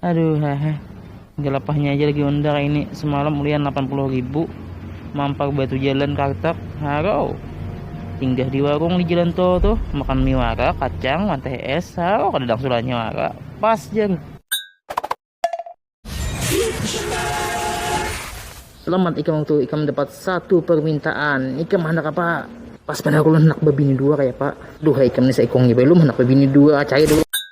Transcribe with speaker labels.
Speaker 1: aduh hehe gelapahnya aja lagi undar ini semalam ulian 80 ribu mampar batu jalan kartap haro tinggal di warung di jalan tol tuh makan mie wara kacang manteh es haro kada dangsulannya wara pas jar selamat ikam waktu ikam dapat satu permintaan ikam hendak apa pas pada aku hendak bebini dua kayak pak duh ikam nih seikongnya belum hendak bebini dua cahaya dulu